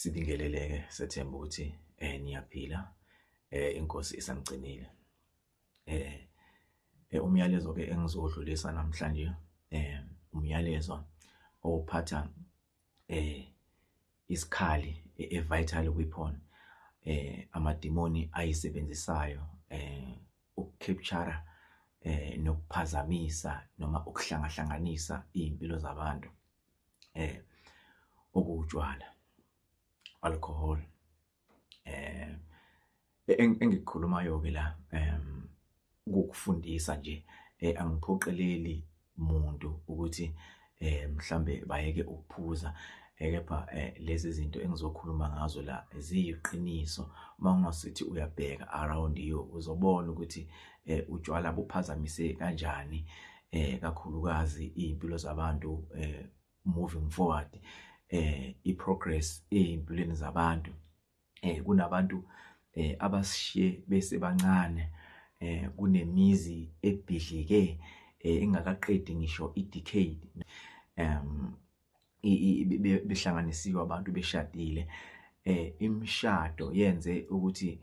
Sibingelele-ke sethemba ukuthi eh niyaphila eh inkosi isamgcinile. Eh, eh umyalezo ke engizodlulisa namhlanje eh umyalezo ophatha eh isikhali evital e weapon eh amadimoni ayisebenzisayo eh ukucapture eh nokuphazamisa noma ukuhlangahlanganisa izimpilo zabantu eh okuwutshwala alcohol eh engikukhulumayo ke la em ukufundisa nje eh, angiphoqeleli muntu ukuthi eh mhlambe bayeke ukuphuza eh, kepha eh, lezi zinto engizokhuluma ngazo la ziyiqiniso uma ungasithi uyabheka around you uzobona ukuthi utshwala buphazamise kanjani eh kakhulukazi impilo zabantu eh moving forward eh iprogress ezimpilweni zabantu eh kunabantu eh abasishiye bese bancane eh kunemizi ebhidlike eh ingakaqedi ngisho idecade um behlanganisiwe abantu beshadile eh imishado yenze ukuthi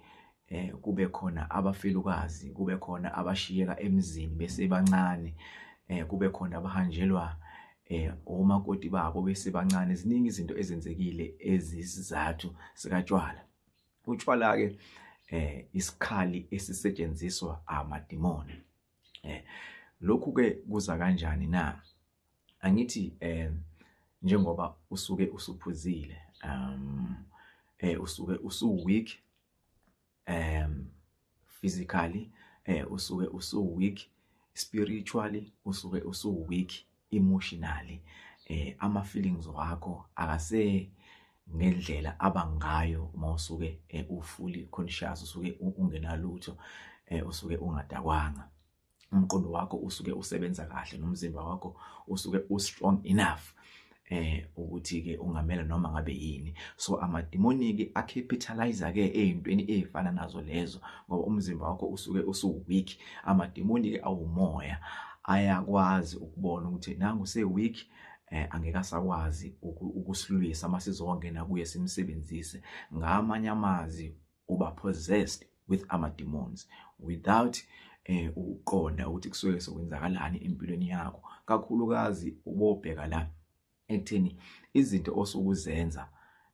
eh kube khona abafelukazi kube khona abashiyeka emzini besebancane eh kube khona abahanjelwa eh omakoti babo besebancane ziningi izinto ezenzekile ezisizathu sikatshwala utshwala ke eh isikhali esisetshenziswa amadimoni eh lokhu ke kuza kanjani na angithi eh njengoba usuke usuphuzile um eh usuke usu weak um physically eh usuke usu weak spiritually usuke usu weak emotionally eh ama feelings wakho akase ngendlela abangayo uma usuke eh, ufuli conscious usuke ungenalutho eh, usuke ungadakwanga umqondo wakho usuke usebenza kahle nomzimba wakho usuke u strong enough eh ukuthi ke ungamela noma ngabe yini so amademoni ke acapitalize ke ezintweni ezifana nazo lezo ngoba umzimba wakho usuke usu weak amademoni ke awumoya ayakwazi ukubona ukuthi nangu se weak eh angeke asakwazi ukusilwisa masizongena kuye simsebenzise ngamanye amazi uba possessed with ama demons without eh ukuqonda ukuthi kusuke sekwenzakalani empilweni yakho kakhulukazi ubobheka la ekutheni izinto osukuzenza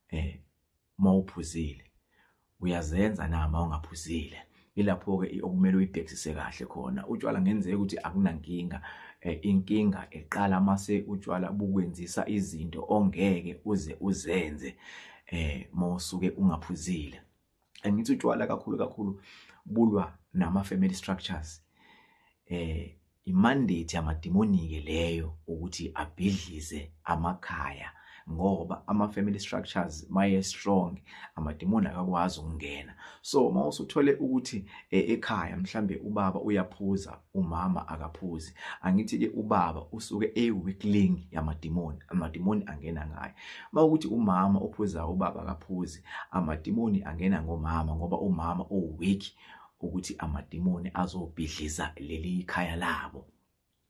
eh mawuphuzile uyazenza na mawungaphuzile ilapho ke okumele uyibhekisise kahle khona utshwala ngenzeka ukuthi akunankinga eh, inkinga eqala mase utshwala bukwenzisa izinto ongeke uze uzenze eh mawusuke ungaphuzile angithi utshwala kakhulu kakhulu bulwa nama family structures eh imandate yamademoni ke leyo ukuthi abhidlize amakhaya ngoba ama family structures maye strong amademoni akakwazi ukungena so uma usuthole ukuthi e, ekhaya mhlambe ubaba uyaphuza umama akaphuzi angithi ke ubaba usuke eyiweakling yamadimoni amadimoni angena ngaye mawukuthi umama ophuzayo ubaba akaphuzi amadimoni angena ngomama ngoba umama uweak ukuthi amadimoni azobhidliza leli ikhaya labo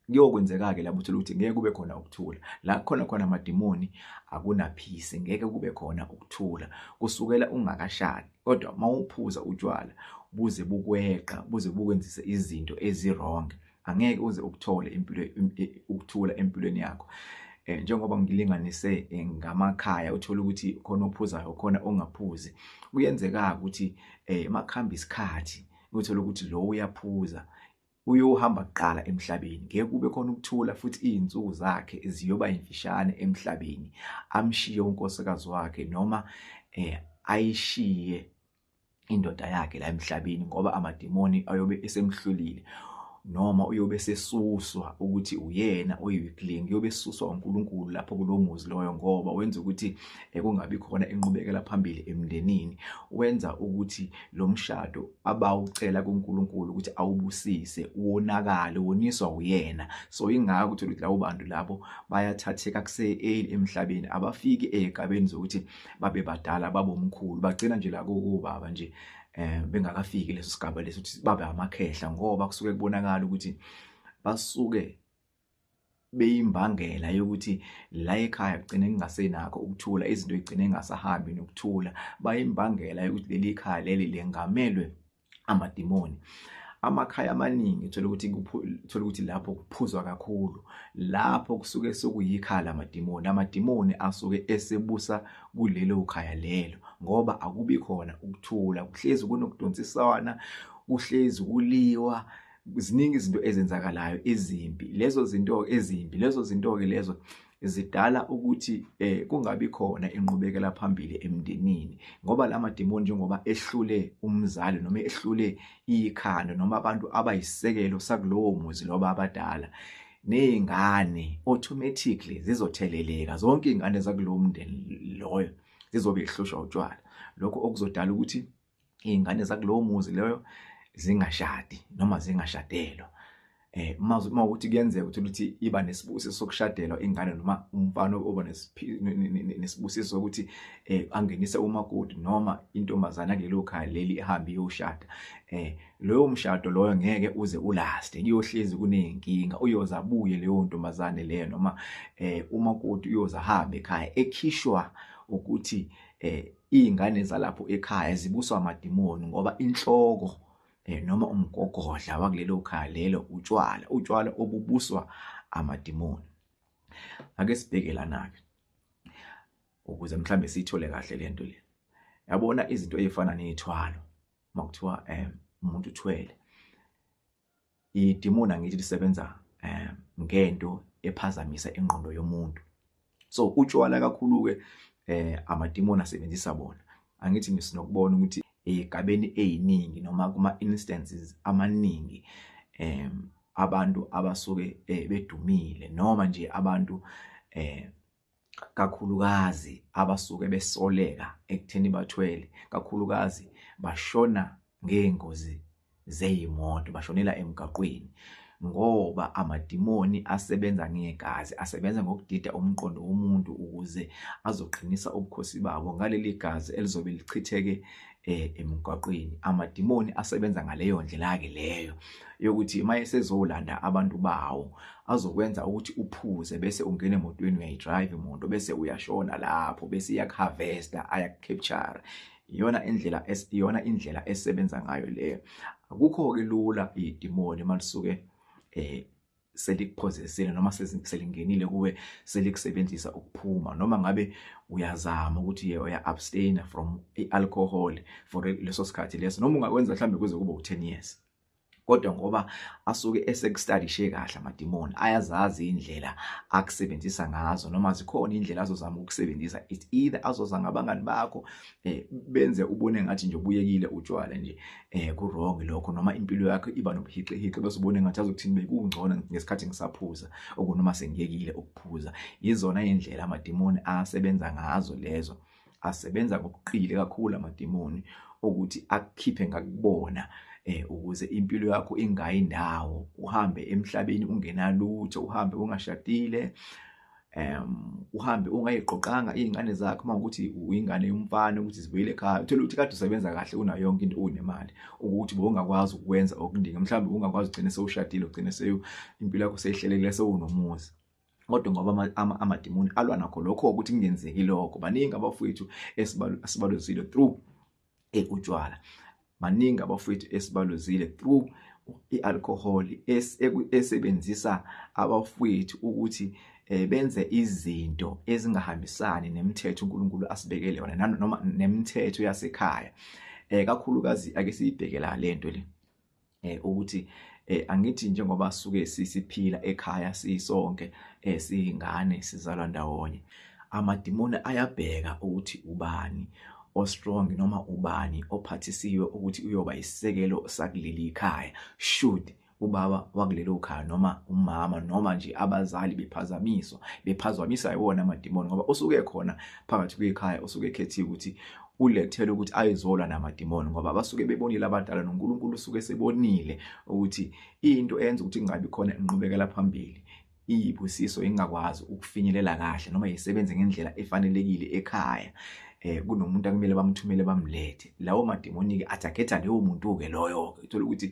kuyokwenzeka-ke lapho uthole ukuthi ngeke kube khona ukuthula la khona khona amadimoni akunaphisi ngeke kube khona ukuthula kusukela ungakashadi kodwa uma uphuza utshwala buze bukweqa buze bukwenzise izinto ezirong angeke uze ukuthole impilo ukuthula empilweni yakho eh njengoba ngilinganise eh, ngamakhaya uthola ukuthi khona ophuzayo khona ongaphuzi kuyenzeka ukuthi eh makhamba isikhathi uthola ukuthi lo uyaphuza Uyohamba kuqala emhlabeni, ngeke kube khona ukuthula futhi izinsuku zakhe ziyoba imfishane emhlabeni. Amshiye unkosikazi wakhe noma eh ayishiye indoda yakhe la emhlabeni ngoba amademoni ayobe esemhlulile noma uyobe sesuswa ukuthi uyena oyiweakling uyobe esuswa uNkulunkulu lapho kulomuzi loyo ngoba wenza ukuthi ekungabi eh, khona inqubekela phambili emndenini wenza ukuthi lo mshado abawucela kuNkulunkulu ukuthi awubusise wonakale woniswa uyena so ingakho uthola ukuthi labo bantu labo bayathatheka kuseeli emhlabeni abafiki ezigabeni zokuthi babe badala babomkhulu bagcina nje la kubaba nje eh bengakafiki leso sigaba leso ukuthi babe amakhehla ngoba kusuke kubonakala ukuthi basuke beyimbangela yokuthi la ekhaya kugcine kungasenakho ukuthula izinto igcine ngasahambi nokuthula bayimbangela yokuthi leli khaya leli lengamelwe amadimoni amakhaya amaningi thola ukuthi thola ukuthi lapho kuphuzwa kakhulu lapho kusuke sokuyikhala amadimoni amadimoni asuke esebusa kulelo khaya lelo ngoba akubi khona ukuthula kuhlezi kunokudonsiswana kuhlezi kuliwa ziningi izinto ezenzakalayo ezimbi lezo zinto ezimbi lezo zinto ke lezo zidala ukuthi eh kungabi khona inqubekela phambili emndenini ngoba lamademoni njengoba ehlule umzali noma ehlule ikhanda noma abantu abayisekelo sakulowo muzi loba abadala nezingane automatically zizotheleleka zonke izingane zakulowo mndeni loyo zizobe ihlushwa utshwala lokho okuzodala ukuthi iy'ngane zakulowo muzi loyo zingashadi noma zingashadelwa eh uma uma ukuthi kuyenzeka ukuthi ukuthi iba nesibusiso sokushadelwa ingane noma umfana oba nesibusiso sokuthi eh angenise umakoti noma intombazana kulelo khaya leli ehambe iyoshada eh loyo mshado loyo ngeke uze ulaste kuyohlezi kunenkinga uyoza abuye leyo ntombazane leyo noma eh umakoti uyoza hambe ekhaya ekhishwa ukuthi eh iy'ngane zalapho ekhaya zibuswa amadimoni ngoba inhloko um noma umgogodla wakulelo khaya lelo utshwala utshwala obubuswa amadimoni ake sibheke lana-ke ukuze mhlawumbe siyithole kahle le nto le yabona izinto ey'fana ney'thwalo uma kuthiwa um umuntu uthwele idimoni angithi lisebenza um ngento ephazamisa ingqondo yomuntu so utshwala kakhulu-ke um amadimoni asebenzisa bona angithi ngisinokubona ukuthi eyigabeni eyiningi noma kuma-instances amaningi um abantu abasuke eh, bedumile noma nje abantu um kakhulukazi abasuke besoleka ekutheni bathwele kakhulukazi bashona ngeengozi zeyimoto bashonela emgaqweni ngoba amadimoni asebenza ngegazi asebenza ngokudida umqondo womuntu ukuze azoqinisa ubukhosi babo ngaleli gazi elizobe lichitheke eh emgwaqweni amadimoni asebenza ngaleyo ndlela ke leyo yokuthi maye sezolanda abantu bawo azokwenza ukuthi uphuze bese ungena emotweni uyayidrive imoto bese uyashona lapho bese iyakuharvesta ayakukapture iyona indlela iyona indlela esebenza ngayo leyo akukho ke lula idimoni malisuke eh selikuphozesile noma selingenile kuwe selikusebenzisa ukuphuma noma ngabe uyazama ukuthi ye uya abstain from ialcohol for leso sikhathi leso noma ungakwenza mhlambe kuze kube u10 years kodwa ngoba asuke esekustadishe kahle amadimoni ayazazi indlela akusebenzisa ngazo noma zikhona indlela azozama ukusebenzisa it either azoza ngabangani bakho eh, benze ubone ngathi nje ubuyekile utshwala nje eh kurong lokho noma impilo yakho iba nobuhiqihiqi bese ubone ngathi azokuthini bekungcono ngesikhathi ngisaphuza okunoma sengiyekile ukuphuza izona indlela amadimoni asebenza ngazo lezo asebenza ngokuqile kakhulu amadimoni ukuthi akukhiphe ngakubona eh ukuze impilo yakho ingayi ndawo uhambe emhlabeni ungenalutho uhambe ungashadile um uhambe ungayiqoqanga iy'ngane zakho uma ukuthi uyingane yomfana ukuthi zibuyele ekhaya uthole ukuthi kade usebenza kahle unayo yonke into unemali ukuthi bowungakwazi ukwenza okuningi mhlawumbe ungakwazi ugcine sewushadile ugcine seyo impilo yakho seyihlelekile sewunomuzi kodwa ngoba amadimoni alwa nakho lokho ukuthi kungenzeki lokho baningi abafowethu esibaluzile through eh, utshwala maningi abafowethu esibaluzile through i-alcohol esebenzisa abafowethu ukuthi eh, benze izinto ezingahambisani nemithetho uNkulunkulu asibekele yona noma nemithetho yasekhaya eh kakhulukazi ake siyibhekela lento le eh ukuthi eh angithi njengoba suke sisiphila ekhaya sisonke eh singane sizalwa ndawonye amadimoni ayabheka ukuthi ubani o strong noma ubani ophathisiwe ukuthi uyoba isisekelo sakuleli ikhaya should ubaba wakulelo khaya noma umama noma nje abazali bephazamiswa bephazamisa iwona amadimoni ngoba usuke khona phakathi kwekhaya usuke ekhethiwe ukuthi ulethele ukuthi ayizolwa namadimoni ngoba basuke bebonile abadala noNkulunkulu usuke sebonile ukuthi into eyenza ukuthi kungabi khona inqubekela phambili iyibusiso ingakwazi ukufinyelela kahle noma yisebenze ngendlela efanelekile ekhaya eh kunomuntu akumele bamthumele bamlethe lawo madimoni ke athakhetha leyo muntu ke loyo ke uthola ukuthi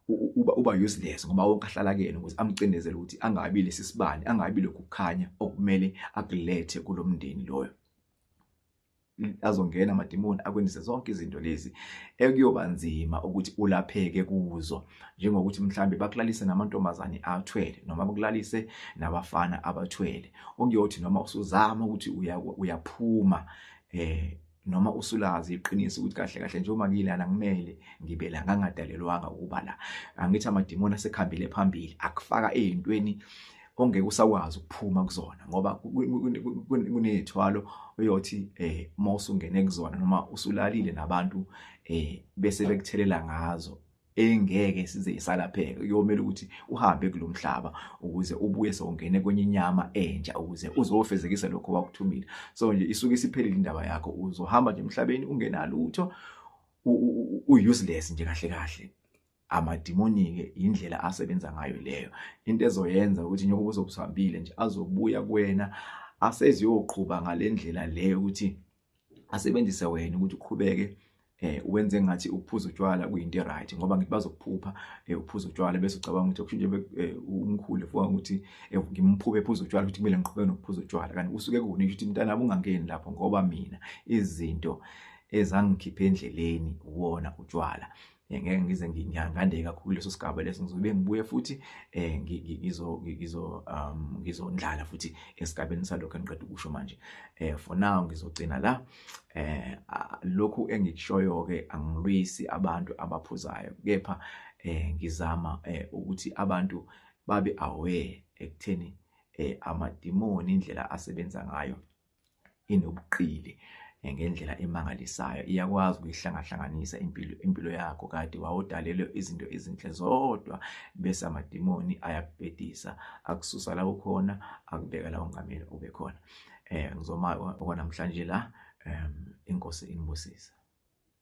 uba uba useless ngoba wonke ahlala kuyena ukuthi amcindezele ukuthi angabi lesisibani angabi lokukhanya okumele akulethe kulomndeni loyo azongena amadimoni akwenzise zonke izinto lezi ekuyoba nzima ukuthi ulapheke kuzo njengokuthi mhlambe bakulalise namantombazane athwele noma bakulalise nabafana abathwele okuyothi noma usuzama ukuthi uyaphuma eh noma usulazi iqiniso ukuthi kahle kahle njengoba ngilana ngimele ngibe la ngangadalelwanga ukuba la angithi amadimoni asekhambile phambili akufaka ezintweni ongeke usakwazi ukuphuma kuzona ngoba kunezithwalo oyothi eh uma usungene kuzona noma usulalile nabantu eh bese bekuthelela ngazo engeke size isalapheke uyomela ukuthi uhambe kulomhlaba ukuze ubuye songene kwenye inyama entsha ukuze uzofezekisa lokho wakuthumile so nje isuke isiphelile indaba yakho uzohamba nje emhlabeni ungenalutho u useless nje kahle kahle amadimoni-ke yindlela asebenza ngayo leyo into ezoyenza ukuthi njengoba uzobusambile nje azobuya kuwena aseziyoqhuba ngale ndlela leyo ukuthi asebenzise wena ukuthi uqhubeke eh wenze ngathi ukuphuza utshwala kuyinto eright ngoba ngithi bazokuphupha eh ukuphuza utshwala bese ucabanga ukuthi kushintshe eh, umkhulu fuka ukuthi eh, ngimphuphe ephuza utshwala ukuthi kumele ngiqhubeke nokuphuza utshwala kanti usuke kuwona ukuthi mntana ungangeni lapho ngoba mina izinto ezangikhipha endleleni wona utshwala eh, ngeke ngize ngingande kakhulu leso sigaba leso ngizobe ngibuye futhi eh ngizo ngizo um ngizondlala futhi esigabeni salokho engiqeda ukusho manje eh for now ngizogcina la eh lokhu engikushoyo ke angilwisi abantu abaphuzayo kepha eh ngizama eh ukuthi abantu babe aware ekutheni eh amadimoni indlela asebenza ngayo inobuqili eh, ngendlela emangalisayo iyakwazi ukuyihlangahlanganisa impilo impilo yakho kade wawudalelwe izinto ezinhle zodwa bese amadimoni ayakubhedisa akususa la ukhona akubeka la ungamele ube khona eh ngizoma okwanamhlanje la inkosi inibusise